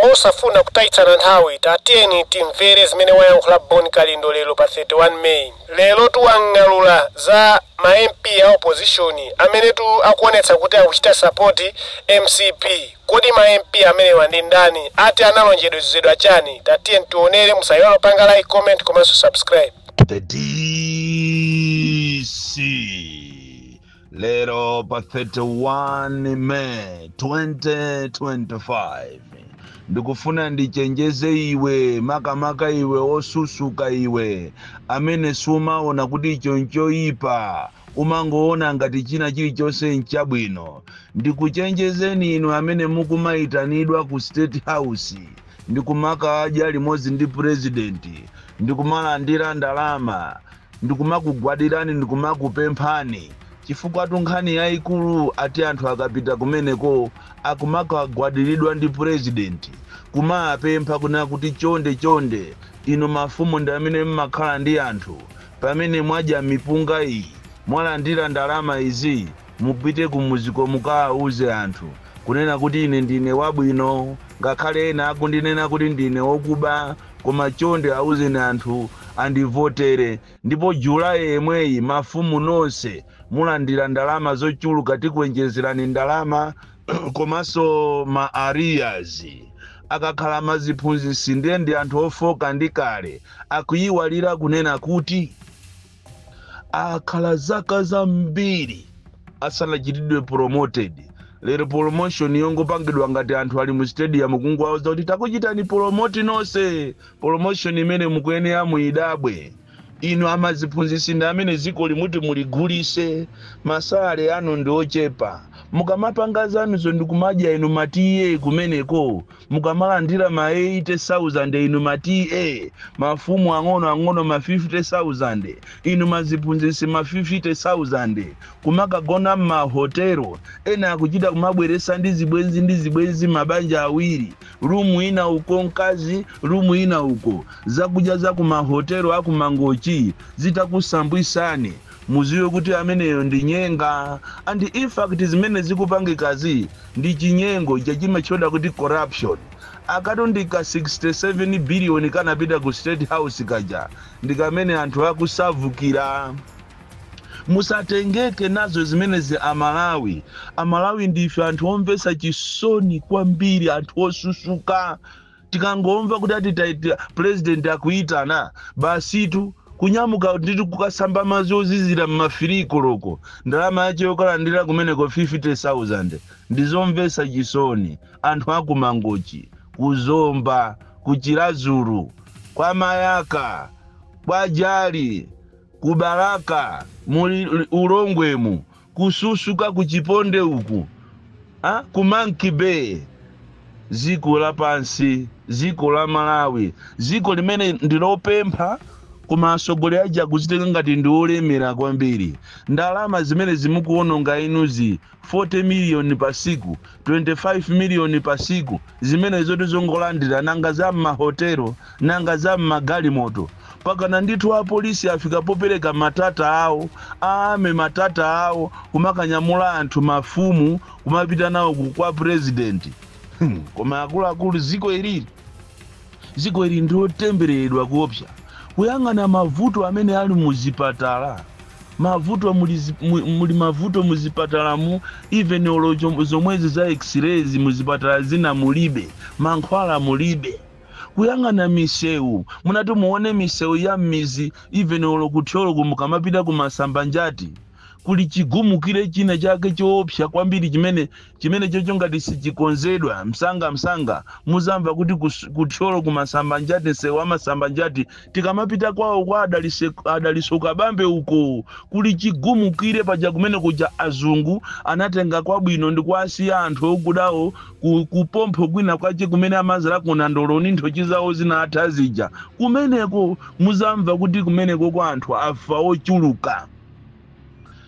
Mosafuna kutayitsana nthawi, tatiyeni timvere zimene wayankhula Bon Kalindo lero pa 31 May. Lerotu wang'alula za ma MP a opposition amenetu akuonetsa kuti akuchita support mcp. Kodi ma MP amenewa ndi ndani? Ati analonjezedwa chani? Tatiyeni tionere, musayiwale kupanga like, comment komanso subscribe. The DC Lero pa 31 May 2025 ndikufuna ndichenjeze iwe makamaka iwe osusuka iwe amene sumaona kuti icho nchoyipa umangoona ngati china chilichonse nchabwino ndikuchenjezeni inu amene mukumayitanidwa ku state house ndikumakadya limodzi ndi purezidenti ndikumalandira ndalama ndikumakugwadirani ndikumakupemphani chifukwatu nkhani yaikulu ati anthu akapita kumeneko akumakagwadiridwa ndi president kumaapempha kunena kuti chonde chonde inu mafumu ndi amene mmakhala ndi anthu pamene mwadya mipunga iyi mwalandira ndalama izi mupite kumuziko mukaauze anthu kunena kuti ine ndine wabwino ngakhale ena akundinena kuti ndine okuba Koma chonde auzeni anthu andivotere ndipo July yemweyi mafumu nonse mulandira ndalama zochuluka tikuenjezerani ndalama komanso ma arrears akakhala maziphunzisi ndiye ndi anthu ofooka ndi kale akuiwalira kunena kuti. akhala zaka zambiri asanachitidwe promoted lero promotion yongopangidwa ngati anthu ali mu stadium kungwauza kuti takuchitani promote nonse promotion imene mukuyenera muyidabwe inu amaziphunzitsi ndi amene dzikoli muti muligulise masalary anu ndi ochepa mukamapanga zanuzo ndikumadya inu ma TA kumeneko Mukamalandira ma 80,000 inu ma TA, mafumu ang'ono ang'ono ma 50,000, inu ma ziphunzitsi ma 50,000, kumakagona mma hotel, ena akuchita kumabweretsa ndi zibwenzi ndi zibwenzi mabanja awiri, room ina uko mkazi, room ina uko, zakudya za ku ma hotel a ku Mangochi zitakusambwisani, muziwe kuti ameneyo ndi nyenga and infact zimene zikupangikazi ndi chinyengo chija chimatchedwa kuti corruption. Akatu ndi ka 67 billion kanapita ku state house kaja ndikamene anthu akusavukira. Musatengeke nazo zimenezi a Malawi. A Malawi ndife anthu omvetsa chisoni kwambiri anthu osusuka. tikangomva kuti ati taitira pulezidenti akuyitana basitu kunyamuka ndithu kukasamba madzi ozizira m'mafiri koloko ndalama yace yokalandira kumeneko 50000 ndizomvetsa chisoni anthu akuMangochi kuZomba kuChiradzulu kwa Mayaka kwa Jali kuBalaka mu Lilongwemu Kususuka ku Chiponde uku ku Monkey Bay ziko la pansi ziko la Malawi ziko limene ndi lopempha koma asogoleli aja akuzitenga ngati ndi olemela kwambiri ndalama zimenezi mukuwononga inuzi 40 million pa siku 25 million pa siku zimenezotu zongolandira nanga za mma hotel nanga za mma galimoto mpakana ndithu a police afika popereka ma Tata awo a army ma Tata awo kumakanyamula anthu mafumu kumapita nawo ku kwa president hmm. koma akuluakulu ziko ilili Dziko ili ndi lotembereredwa koopsa. Kuyang'ana mavuto amene ali mu zipatala, mavuto muli, muli mavuto mu zipatalamu, even olo zomwezi za x-rays mu zipatala zina mulibe, mankhwala mulibe. Kuyang'ana misewu, munati muone misewu ya mmizi even olo ku Thyoloku mukamapita ku Masambanjati kuli chigumukire china chake choopsa kwambiri chimene Chimenechocho ngati sichikonzedwa msangamsanga, muzamva kuti ku, ku Thyolo ku Masambanjati, msewu wa Masambanjati, tikamapita kwawo kwa Adalise, Adaliso Kabambe uko, kuli chigumukire paja kumene kuja azungu anatenga kwabwino ndikuwasiya anthu okudawo ku, ku pompho kwina kwache kumene amazalako nandolo ndi nthochi zawo zinatha zija. Kumeneko muzamva kuti kumenekoko anthu afa ochuluka.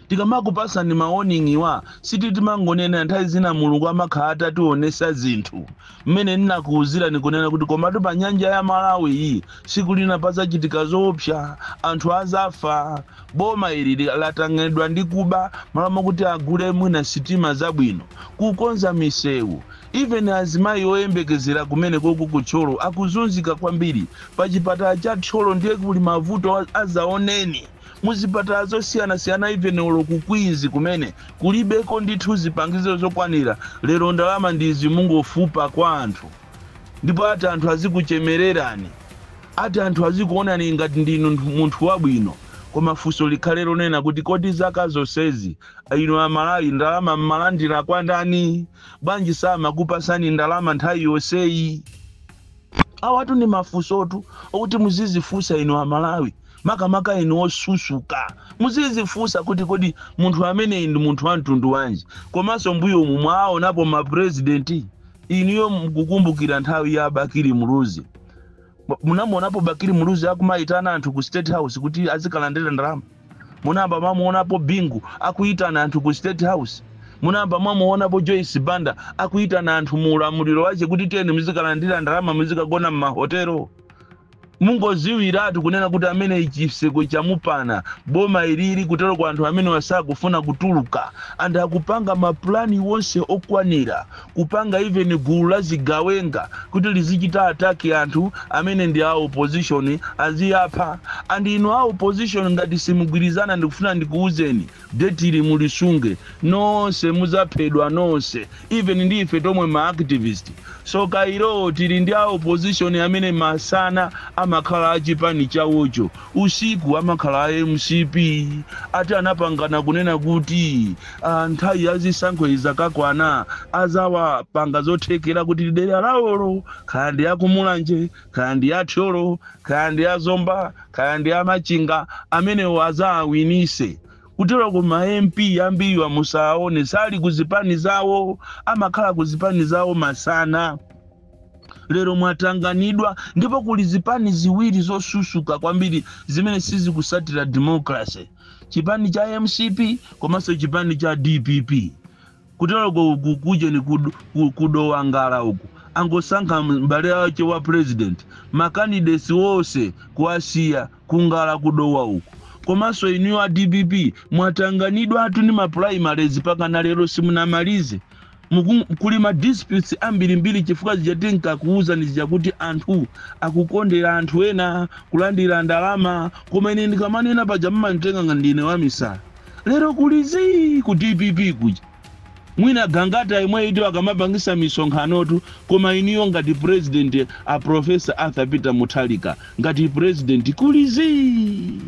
Tikamakupatsani ma warning wa sikuti timangonena nthawi zina mulungu amakhala atationesa zinthu mmene nnakuuzirani kunena kuti komatu pa nyanja ya Malawiyi siku lina pazachitika zoopsa anthu azafa boma ili latanganidwa ndi kuba malo mokuti agule mwina sitima zabwino kukonza miseu even azimayi oyembekezera kumenekoko ku Thyolo akuzunzika kwambiri pa chipatala cha Thyolo ndiye kuli mavuto azaoneni. mu zipatala zosiyanasiyana even olo ku Queens kumene kulibeko ndithu zipangizo zokwanira lero ndalama ndi izi mukungofupa kwa anthu ndipo ati anthu azikuchemererani ati anthu azikuonani ngati ndinu nthu- munthu wabwino koma funso likhale lonena kuti kodi zaka zonsezi inu Amalawi ndalama mmalandira kwa ndani bwanji samakupasani ndalama nthawi yonseyi Awatu ndi mafunsotu okuti muzizifunsa inu a Malawi makamaka inu osusuka. Muzizifunsa kuti kodi munthu ameneyi ndi munthu wa mtundu wanji? Komanso mbuyomu mwawaonapo ma president. Inuyo mukukumbukira nthawi ya Bakili Muluzi. Munamuonapo Bakili Muluzi akumaitana anthu ku state house kuti azikalandira ndalama? Munayamba mwamuonapo Bingu akuyitana anthu ku state house? Munayamba mwamuonapo Joyce Banda akuyitana anthu mu ulamuliro wache kuti tiyeni muzikalandira ndalama muzikagona m'mahotelo? Mungoziwiratu kunena kuti ameneyi chiseko chamupana, boma ilili kuteroko anthu amenewa sakufuna kutuluka and akupanga ma plan onse okwanira kupanga even gulu la zigawenga kuti lizichita attack anthu amene ndi a opposition aziapha and inu a opposition ngati simugwirizana ndikufuna ndikuuzeni date ili mulisunge nonse muzaphedwa nonse even ndi ife tomwe ma activist. So kayilowo tili ndi a opposition amene masana amakhala a chipani chawocho usiku amakhala a mcp ati anapangana kunena kuti ah nthawi ya zisankho izakakwana azawapanga zothekera kuti dera lawolo kaya ndi a ku Mulanje kaya ndi a thyolo kaya ndi a zomba kaya ndi a machinga amenewo azawawinise kuteroko ma mp ambiriwa musaaone sali ku zipani zawo amakhala ku zipani zawo masana lero mwatanganidwa ndipo kuli zipani ziwiri zosusuka kwambiri zimene sizikusatira democracy chipani cha mcp komanso chipani cha dpp kuteroko uku kujeni kud- ku- ku Dowa Ngala uku angosankha mbale wache wa president makandidesi onse kuwasiya ku Ngala ku Dowa uku komanso inuyo a dpp mwatanganidwatu ndi mapulayimalezi pakana lero simunamalize Muku, kuli ma disputes ambirimbiri chifukwa zija tinkakuuzani zija kuti anthu akukondera anthu ena kulandira ndalama koma ine ndikamanena paja mmanditenga ngati ndine wamisala. Lero kuli zii ku dpp kuja. Mwina Gangata yemweyutu akamapangisa misonkhanotu koma inuyo ngati president a Prof. Arthur Peter Mutharika ngati president kuli zii.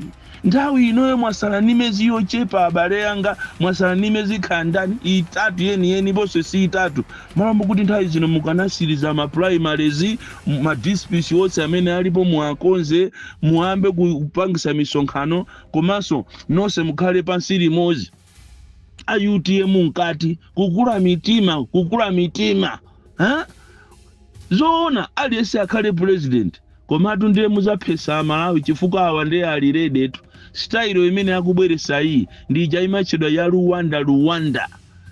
Nthawi inoyo mwasala ni mezi yochepa abale anga mwasala ni mezi kaya ndani itatu yeni yeni bose si itatu malo mukuti nthawi zino mukanasiliza ma primaries ma dispits wose amene alipo muwakonze muwambe kupangisa misonkhano komanso nose mukhale pansi limozi a utm mkati kukula mitima kukula mitima ha? zoona aliyense akhale president komatu ndiye muzaphesa amalawi chifukwa awa ndiye ali rede tu sitayilo imene akubweresa iyi ndija imatchedwa ya Rwanda Rwanda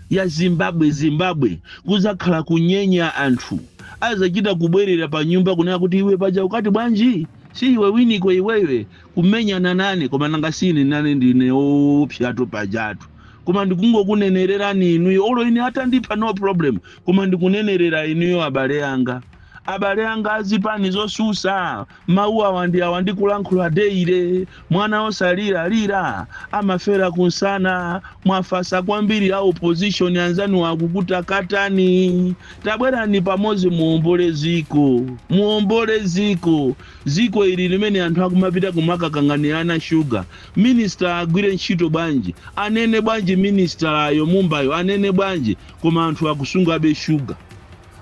ya zimbabwe zimbabwe kuzakhala kunyenya anthu azachita kubwerera pa nyumba kunena kuti iwe paja ukati bwanji si iwe winiko iwewe kumenyana nane koma nanga siine nane ndine oopsatu pajatu koma ndikungokunenererani inuyo olo ine atandipha no problem koma ndikunenerera inuyo abale anga abale anga azipani zosusa mawu awa ndi awa ndikulankhula deire mwana osalira lira amafera kunsana mwafatsa kwambiri a opposition anzanu akukutakatani tabwerani pamodzi muombole dziko muombole dziko Dziko ili limene anthu akumapita kumakanganirana sugar, minister agwire ntchito bwanji, anene bwanji minister-yo mumbayo anene bwanji koma anthu akusungabe sugar.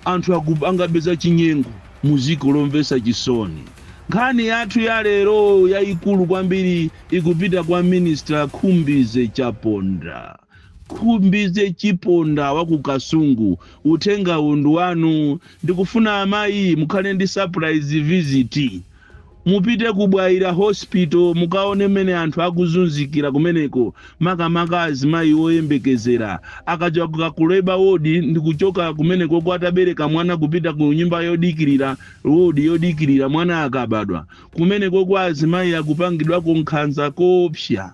Anthu akupangabe za chinyengo mu dziko lomvetsa chisoni. Nkhani yathu ya lero yayikulu kwambiri ikupita kwa minister Khumbize Chiponda. Khumbize Chiponda wa ku Kasungu, uthengawu ndi wanu. Ndikufuna amayi mukhale ndi surprise visit. Mupite ku Bwaila Hospital mukaone mmene anthu akuzunzikira kumeneko makamaka azimayi oyembekezera akachoka ku labour ward ndi kuchoka kumenekoko atabereka mwana kupita ku nyumba yodikirira, ward yodikirira mwana akabadwa. Kumenekoko azimayi akupangidwako nkhanza koopsa.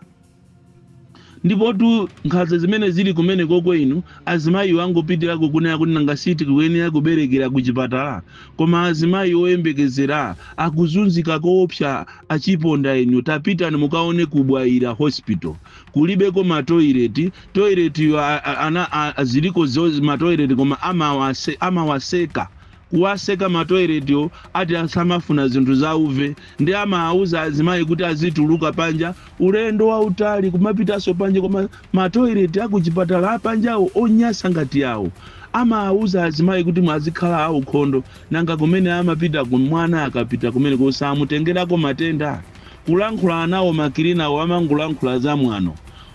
ndipotu nkhanza zimene zili kumenekoko inu azimayiwo angopitira kukunena kuti nanga si tikuyenera kuberekera kuchipatala koma azimayi oyembekezera akuzunzika koopsa achiponda inu tapitani mukaone ku bwaila hospital kulibeko matoileti toiletiyo a- a- ana a- ziliko zo matoileti koma amawase- amawaseka kuwaseka ma toilet wo ati samafuna zinthu zauve nde amaauza azimayi kuti azituluka panja ulendo wautali kumapitaso panja ku ma toilet akuchipatala apanjawo onyasa ngati yawo amaauza azimayi kuti mwazikhala aukhondo nanga kumene amapitako mwana akapita kumeneko samutengerako matenda? kulankhula nawo makilinawo amangolankhula zamwano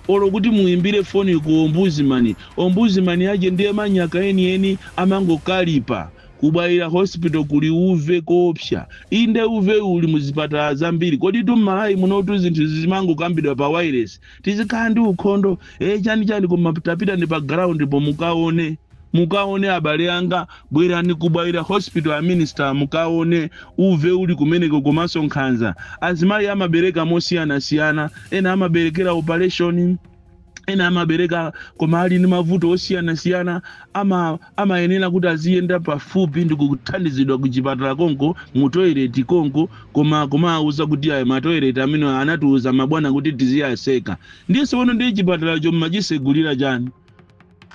Olo kuti muimbire foni ku Ombudsman, Ombudsman yache ndiye manyaka enieni, amangokalipa. Ku Bwaila Hospital kuli uve koopsya. Inde uve uli mu zipatala zambiri. Koditu m'Malawi munotu zinthuzi zimangokambidwa pa wailesi. Tizikhala ndi ukhondo? Eee chani chani koma tapitani pa ground po mukaone. Mukaone abale anga, bwerani ku Bwaila hospital a minister mukaone uve uli kumeneko komanso nkhanza. Azimayi amabereka mosiyanasiyana, ena amaberekera operation, ena amabereka koma ali ndi mavuto osiyanasiyana ama amayenera kuti aziyenda pafupi ndi kuthandizidwa ku chipatala konko mu toilet konko koma kumawauza kuti ayi ma toilet amenewa anatiuza mabwana kuti tiziwatseka. Ndiye tsopano ndiye chipatalacho mmachisegulira chani?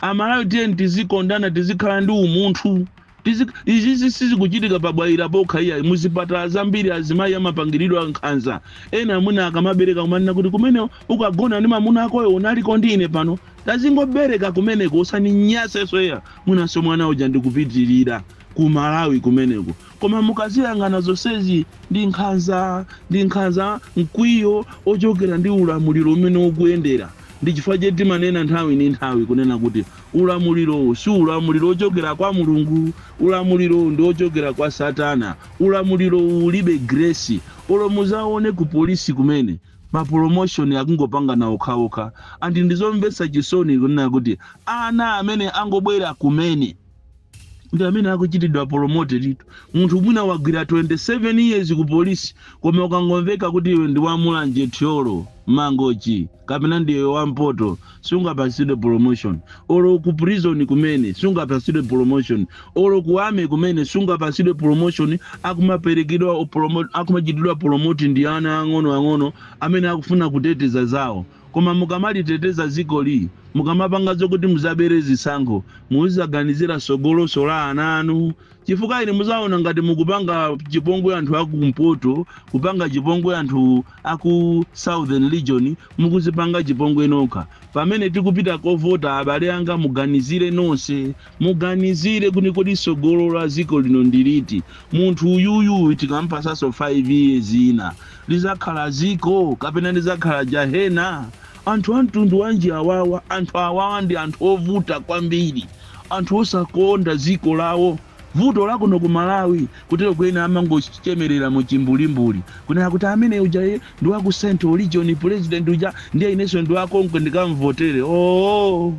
amalawi tiyeni tizikondana tizikhala ndi umunthu Tizi- izizi sizikuchitika pa bwaira pokha iyayi muzipatala zambiri azimayi amapangiridwa nkhanza ena amwina akamabereka kumanena kuti kumene ukagona ndi mamuna akoyo unaliko ndi ine pano tazingobereka kumeneko usandinyansenso iya mwinanso mwana uja ndikupitirira ku malawi kumeneko Koma mukaziyang'ana zonsezi ndi nkhanza, ndi nkhanza, mkwiyo wochokera ndi ulamuliro umene ukuyendera. Ndi chifukwa chake timanena nthawi ndi nthawi, kunena kuti, ulamulirowu si ulamuliro wochokera kwa Mulungu. Ulamulirowu ndi wochokera kwa Satana. Ulamulirowu ulibe grace. Olo mukaone ku police kumene, ma promotion akungopangana okhaokha. And ndi zomvetsa chisoni kunena kuti ana amene angobwera kumene. ndi amene akuchitidwa promoteditu. Munthu mwina wagwira 27 years ku police koma ukangomveka kuti iwe ndi wa Mulanje, Thyolo, Mangochi kapena ndiwe wa mpoto sungapatsidwe promotion. Olo ku prison kumene sungapatsidwe promotion. Olo ku army kumene sungapatsidwe promotion akumaperekedwa promo- akumachitidwa promote ndi ana ang'ono ang'ono amene akufuna kuteteza zawo. Koma mukamaliteteza zikoli, mukamapanga zokuti muzabere zisankho, muzizaganizira sogolonso la ana anu chifukwa inu muzaona ngati mukupanga chipongwe anthu aku mpoto, kupanga chipongwe anthu aku southern region, mukuzipanga chipongwe nokha. Pamene tikupita kovota abale anga muganizire nonse Muganizire kuti kodi sogolo la ziko lino ndiliti? Munthu uyuyu uyu tikampasaso 5 years ina lizakhala ziko kapena lizakhala jahena? Anthu amtundu wanji awawa anthu awawa ndi anthu ovuta kwambiri anthu osakonda ziko lawo vuto lakuno ku Malawi kuteroko ena amangochemerera mu chimbulimbuli kunena kuti amene uja ndi waku central region president uja ndiye ineso ndi wakonko ndikamvotere oo!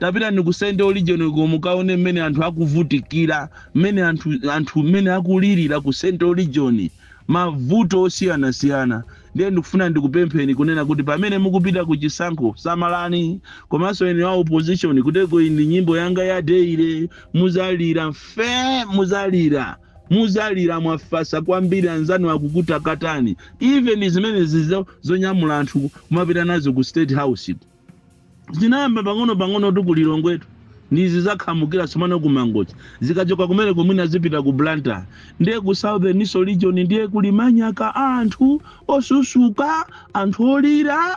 Tapitani ku central region ko mukaone mmene anthu akuvutikira, mmene anthu anthu mmene akulilira ku central region, mavuto osiyanasiyana. Ndiye ndikufuna ndikupempheni kunena kuti pamene mukupita ku chisankho samalani, komanso inu a opposition kuteko iyi ndi nyimbo yanga ya daily, muzalira mfe, muzalira, muzalira mwafasa kwambiri anzanu akukutakatani, even zimenezi zonyamula anthu kumapita nazo ku state house ko. zinayamba pang'ono-pang'onotu ku lilongwetu ndizi zakhamukira somano ku mangochi zikachoka kumeneko mwina zipita ku blantyre ndiye ku southernso region ndiye kuli manyaka anthu osusuka anthu olira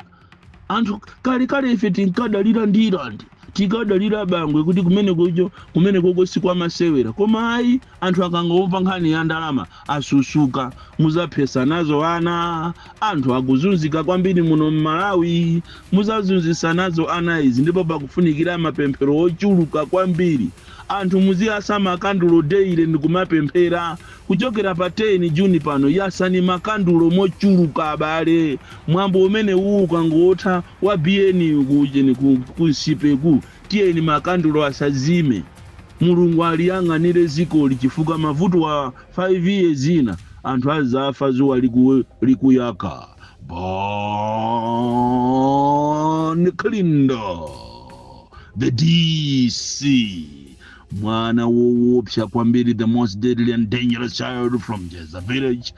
anthu kalekale ife tinkadalira ndirandi tinkadalira bangwe kuti kumeneko kumenekoko sikwamasewera koma ayi Anthu akangomva nkhani ya ndalama asusuka. Muzaphesa nazo ana. Anthu akuzunzika kwambiri muno m'Malawi. Muzazunzisa nazo ana izi ndipo pakufunikira mapemphero ochuluka kwambiri. Anthu muziyasa makandulo daily ndikumapemphera. Kuchokera pa 10 June pano yasani makandulo mochuluka abale. Mwambo umenewuu ukangotha wa ku ujeni ku Nsipe-ku tiyeni makandulo asazime. Mulungu aliyang'anire dzikoli chifukwa mavuto a 5 years zina anthu azafa zuwa liku likuyaka Bon Kalindo the DC mwana wowopsa kwambiri the most deadly and dangerous child from Njedza village